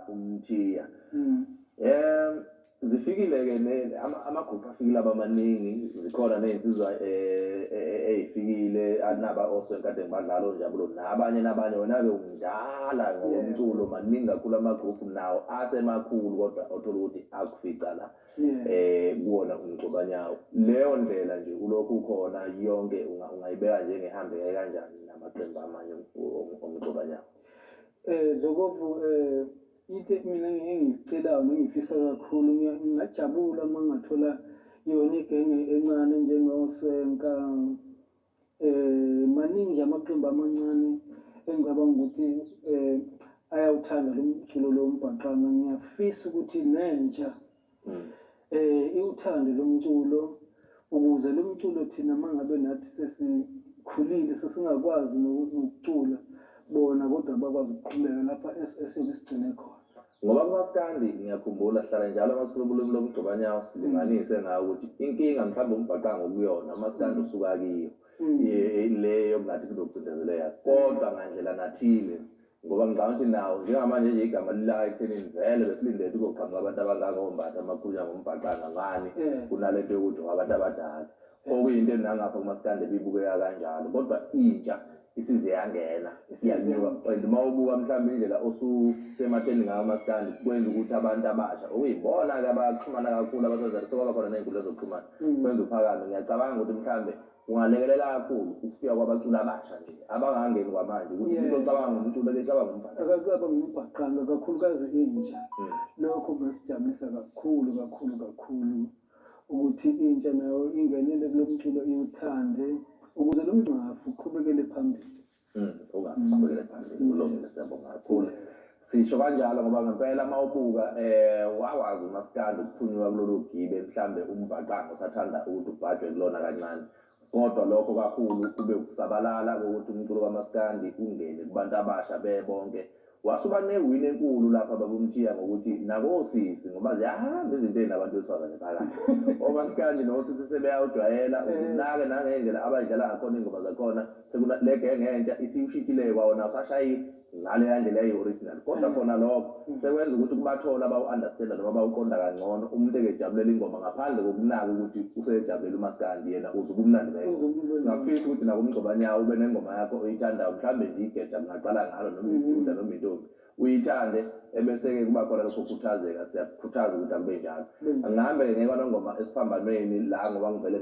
umthiya um zifikile-ke amagrupu afikile abamaningi zikhona ney'nsizwa um eh, eh, eh, ey'fikile anaba osonkade ngibadlala onjabulo nabanye nabanye wena-ke umdala ngokomculo maningi kakhulu amagrupu nawo asemakhulu kodwa othola ukuthi akufica la um kuwona umgcobanyawo leyo ndlela nje kulokhu khona yonke ungayibeka njengehambeke kanjani namaqembu amanye omgcobanyawo Eh Zokovu eh into mina engiyicelayo nengifisa kakhulu ngingajabula uma ngathola yona igenge encane njengoSwenka eh maningi nje amaqembu amancane engicabanga ukuthi eh ayawuthanda lo mculo lo mbhaqanga ngiyafisa ukuthi nentsha mm. eh iwuthando lomculo ukuze lo mculo thina mangabe nathi sesikhulile sesingakwazi nokucula bona kodwa bakwazi ukuqhubeka lapha esiyobe sigcine khona ngoba kumaskandi ngiyakhumbula sihlala njalo masikhulubulumi lomgxobanyawo silinganise ngawo ukuthi inkinga mhlawumbe umbhaqanga okuyona umaskandi mm. usuka kiyo mm. le yokungathi kunokucindezeleka kodwa ngandlela nathile Ngoba ngicabanga ukuthi nawo njengamanje nje igama lilaka ekuthenini vele besilinde ukuthi kuzoqhamuka abantu abangaka ombatha amakhunya ngombhaqa angangani eh. kunale nto yokuthi wabantu abadala eh. okuyinto enangapha kumasikandi ebibukeka kanjalo kodwa intsha isize yangena isiyanyuka and uma ubuka mhlawumbe indlela osusematheni ngayo umasikandi kwenza ukuthi abantu abasha okuyibona-ke abaxhumana kakhulu abasazari sekwaba khona ney'nkundla zokuxhumana mm. kwenza uphakame ngiyacabanga ukuthi mhlawumbe Kungalekelela kakhulu ukufika kwabaculi abasha nje abangangeni kwamanje ukuthi umuntu ocabanga ngomculo ebecabanga umbhaqanga. Akacaba ngombhaqanga kakhulukazi intsha. Hmm. Lokho kungasijabulisa kakhulu kakhulu kakhulu ukuthi intsha nayo ingenele kulo mculo iwuthande ukuze lo mngcwafu uqhubekele phambili. Mm, ungaqhubekela phambili kulungile siyabonga kakhulu sisho kanjalo ngoba ngempela uma ubuka eh wawazi umaskandi ukuphunyuka kulolu gibe mhlambe umbhaqango sathanda ukuthi ubhajwe kulona kancane kodwa lokho kakhulu kube ukusabalala kokuthi umculo kamaskandi ungene kubantu abasha bebonke Wase uba newin enkulu lapha babumthiya ngokuthi nakosisi ngoba ziyahamba izintweni nabantu besifazane phakathi. Omaskandi nosisi sebeyawujwayela ukunake nangendlela abayidlala ngakhona ingoma zakhona sekuna le genge entsha isiwushintshile kwawona awusashayi ngaleya ndlela eyi original kodwa khona lokho sekwenza ukuthi kubathole abawu understander noma abawuqonda kangcono umuntu ekejabulela ingoma ngaphandle kokunaka ukuthi useyejabulela umaskandi yena uza ubumnandi bengoma. Singakufisa ukuthi nakumgxobanyawo ube nengoma yakho oyithandayo mhlawumbe nje igeja aqala ngalo noma isidudla noma intombi uyithande ebese-ke kuba khona lokho kukhuthazeka siyakukhuthaza ukuthi akube njalo angihambe-ke ngekwanongoma esiphambanweni la ngoba ngivele